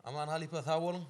Aman halypa sag boluň.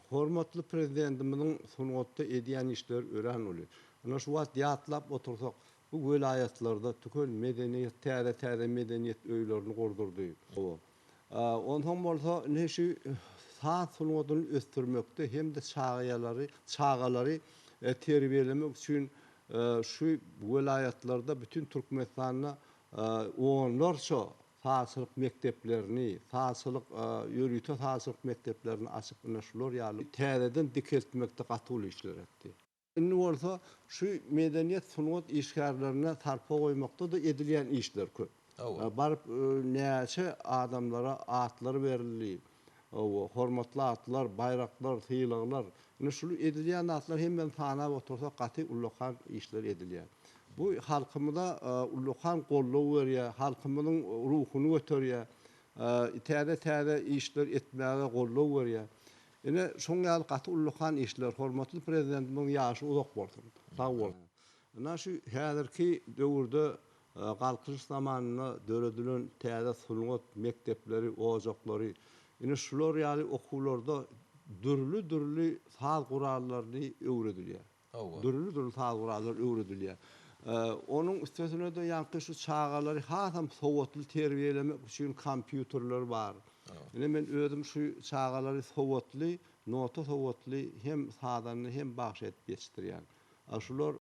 Hormatly Prezidentimiziň sungatda edýän işleri örän uly. Ynha şu wagt ýatlap otursak, bu welaýatlarda tükel medeniýet, täze-täze medeniýet öýlerini gurdurdy. Hawa. Onsoň bolsa ine şu saz sungatyny ösdürmekde hem-de çagaýalary, çagalary terbiýelemek üçin şu welaýatlarda, bütin Türkmenistanda onlarça sazçylyk mekdeplerini, sazçylyk, ýörite sazçylyk mekdeplerini açyp, ine, şular ýaly täzeden dikeltmekde gaty uly işler etdi. Indi bolsa şu medeniýet, sungat işgärlerine sarpa goýmakda-da edilýän işler köp. Baryp, näçe adamlara atlar berildi. hormatly atlar, baýraklar, sylaglar. Ine şu edilýän zatlaryň hemmesini sanap otursak gaty ullakan işler edilýär. Bu halkymyza ullakan goldaw berýär, halkymyzyň ruhuny göterýär, täze täze işler etmäge goldaw berýär. Ine şoň ýaly gaty ullakan işler, hormatly Prezidentimiziň ýaşy uzak bolsun, sag bolsun. Ynha şu häzirki döwürde Galkynyş zamanynda döredilen täze sungat mekdepleri, ojaklary, ine şular ýaly okuwlarda dürli-dürli saz gurallaryny öwredilýär. Hawa. Dürli-dürli saz gurallary öwredilýär. Onuň üstesine-de ýaňky şu çagalary hasam sowatly terbiýelemek üçin kompýuterler bar. Ine men özüm şu çagalary sowatly, nota sowatly hem sazanda hem bagşy edip ýetişdirýän. A şular